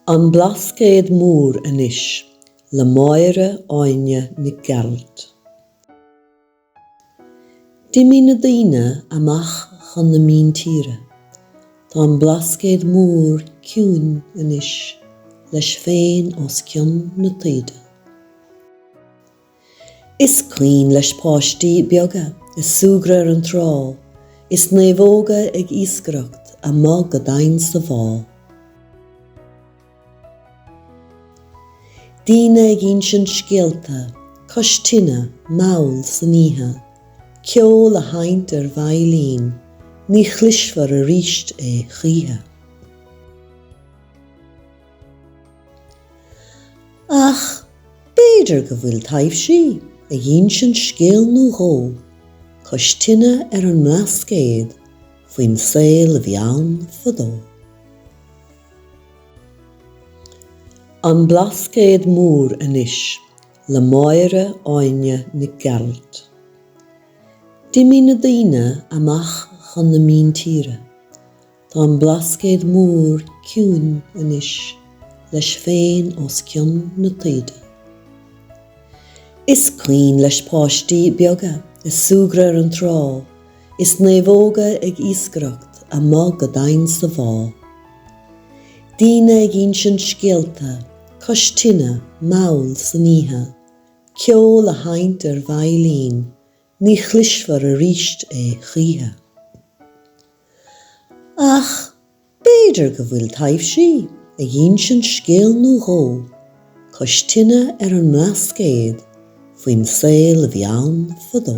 An Blascaod Mór Anois le Máire Áine Nic Gearailt D'imigh na daoine amach chun na míntíre. Tá an Blascaod Mór ciúin anois, leis féin os cionn na taoide. Is cuimhin leis páistí beaga ag súgradh ar an trá is naomhóga ag iascaireacht amuigh go domhain sa bhá. Daoine ag insint scéalta cois tine, mall san oíche, ceol á sheinnt ar veidhlín, ní chloisfear arís é choíche. Ach b'fhéidir go bhfuil taibhsí ag insint scéal nó dhó cois tine ar an mBlascaod faoin saol a bhí ann fadó. An Blascaod Mór Anois le Máire Áine Nic Gearailt D'imigh na daoine amach chun na míntíre Tá an Blascaod Mór ciúin anois leis féin os cionn na taoide. Is cuimhin leis páistí beaga ag súgradh ar an trá is naomhóga ag iascaireacht amuigh go domhain sa bhá. Daoine ag insint scéalta cois tine mall san oíche, ceol á sheinnt ar veidhlín Ní chloisfear arís é choíche. Ach b'fhéidir go bhfuil taibhsí ag insint scéal nó dhó cois tine ar an mBlascaod faoin saol a bhí ann fadó.